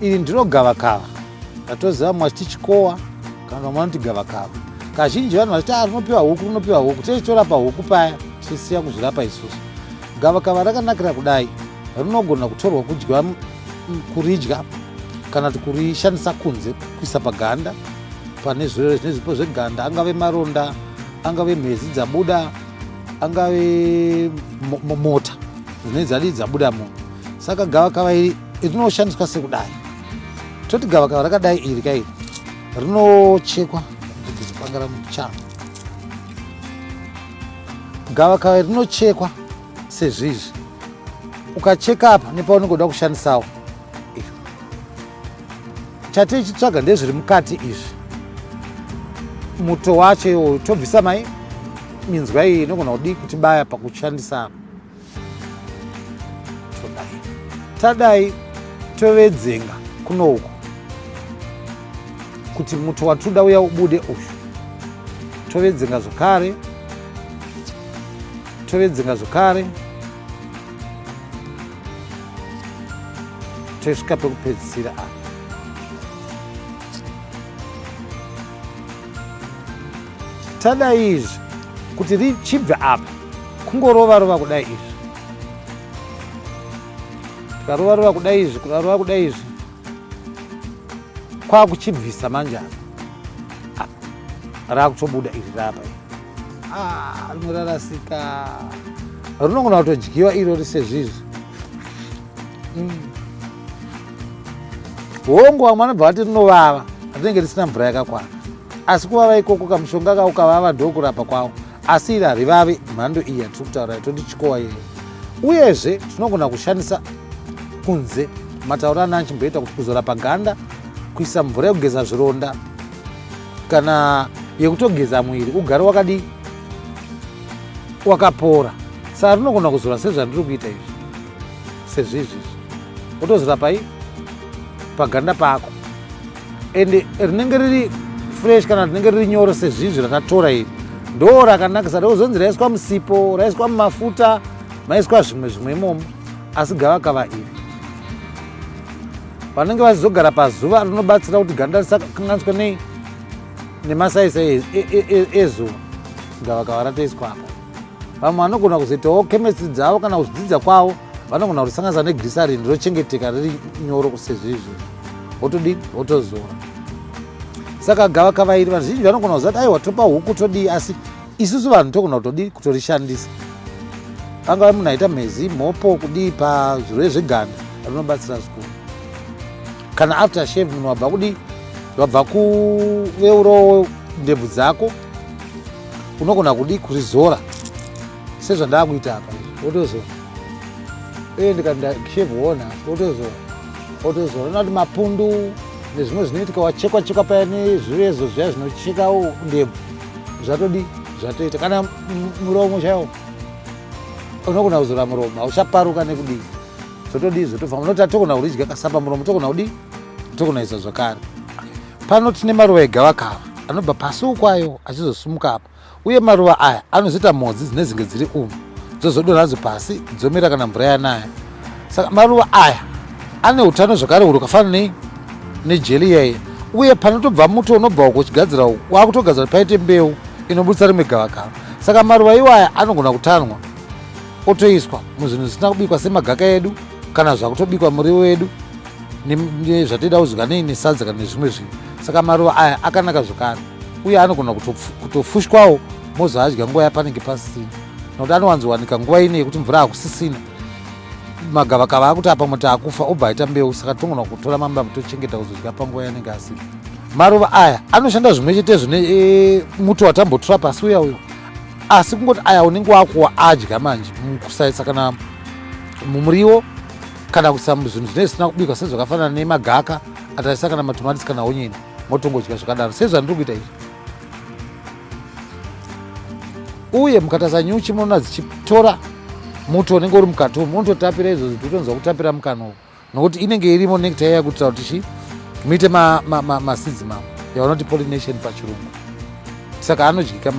iri ndiro gavakava ratoziva mumwe achiti chikowa kana vamwe vanoti gavakava kazhinji vanhu vachiti ah, rinopiwa huku rinopiwa huku tese torapa huku paya tisiya kuzvirapa isusu gavakava rakanakira kudai rinogona kutorwa kudya kuridya kana kuti kurishandisa kunze kuisa paganda pane zvirwere zvine zvipo zveganda angave maronda angave mhezi dzabuda angave mota dzine dzadii dzabuda muno saka gavakava iri rinoshandiswa sekudai toti gavakava rakadai iri kairi rinochekwa kuzipangara muchana gavakava rinochekwa sezvizvi ukacheka apa nepaunenge uda kushandisawo chati ichitsvaga ndezviri mukati izvi muto wacho iwoyo tobvisa mai minzwa iyi inogona kudii kuti baya pakushandisa todai tadai tovedzenga kuno uku kuti muto watoda uya ubude uyu tovedzenga zvakare Tovedzenga zvekare tosvika pekupedzisira apa tada izvi kuti richibve apa kungorova rova kudai izvi tikarova rova kudai izvi kurarova kudai izvi kwakuchibvisa manje apa ah, raakutobuda iri rapa ah, rimwe rarasika rinogona kutodyiwa iro risezvizvi mm. hongu vamwe vanobva vati rinovava rinenge risina mvura yakakwana asi kuvava ikoko kamushonga kako kavava ndokurapa kwavo asi iri harivavi mhando iyi yatiri kutaura itoti chikowa yeye uyezve tinogona kushandisa kunze matauro ana achimboita kuti kuzora paganda kuisa mvura yekugeza zvironda kana yekutogeza muviri ugare wakadii wakapora saka rinogona kuzora sezvandiri kuita izvi sezvizvizvi otozora pai paganda pako and rinenge riri fresh kana rinenge riri nyoro sezvizvi ratatora iri ndo rakanakisa ndokuzonzi raiswa musipo raiswa mumafuta maiswa zvimwe zvimwe imomo asi gavakava iri vanenge vachizogara pazuva rinobatsira kuti ganda risakanganiswe nei nemasaisa e, e, e, ezuva gavakava ratoiswa apa vamwe vanogona kuzoitawo chemistry dzavo kana kuzvidzidza kwavo vanogona kurisanganisa negrisarin rinochengeteka riri nyoro kusezvo izvi wotodii wotozora saka gavakava iri vazhinji vanogona kuziva kuti aiwa topa huku todii asi isusu vanhu togona kutodii kutorishandisa angava munhu aita mhezi mhopo kudii pazvirwere zveganda rinobatsira zvikuru kana after shave munhu wabva kudii wabva kuveurawo ndebvu dzako unogona kudii kurizora sezvandakuita apa wotozona uye ndikashevhi wona wotozona wotozona unati mapundu nezvimwe zvinoitika wachekwa chekwa paya nezvirezo zviya zvinochekawo ndebvu zvatodi zvatoita kana muromo chaiwo unogona kuzora muromo hauchaparuka nekudii zvotodii zvotobva unoti atogona kuridya kasapa muromo togona kudii togonaisa zvakare pano tine maruva egavakava anobva pasi ukwayo achizosumuka apa uye maruva aya anozoita mhodzi dzine zinge dziri umu dzozodonha dzo pasi dzomera kana mvura yanaya saka maruva aya ane utano zvakare uri kafana nei nejeli yaye uye panotobva muto unobva uko uchigadzira uku wakutogadzira kuti paite mbeu inobudisa rimwe gavakava saka maruva iwaya anogona kutanwa otoiswa muzvinhu zvisina kubikwa semagaka edu kana zvakutobikwa muriwo wedu zvatida kuzvika nei nesadza kana nezvimwe zvinhu saka maruva aya akanaka zvekare uye anogona kutofushwawo mozoadya nguva yapanenge pasisina nokuti anowanzowanika nguva ine yekuti mvura hakusisina magavakava akuti apa muti akufa obva aita mbeu saka tinogona kutora mamba mutochengeta kuzodya panguva yanenge asina maruva aya anoshanda zvimwe chete zvine e, muto watambotura pasi uya uyo asi kungoti aya unenge wakuwa adya manje mukusaisa kana mumuriwo kana kuisa muzvinhu zvinee zvisina kubikwa sezvakafanana nemagaka ataisa kana matomatisi kana onyeni motongodya zvakadaro sezvandiri kuita izvi uye mukataza nyuchi munoona dzichitora muto unenge uri mukati umu unototapira izvozvo titonzwa kutapira mukana uku nokuti inenge irimo nekta iya kutira kuti chi muite masidzi ma, ma, ma, mavo yavanoti pollination pachirungu saka anodyika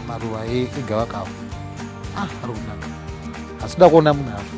maruva egavakava ah, ari kunaka asi da kuona munhu apo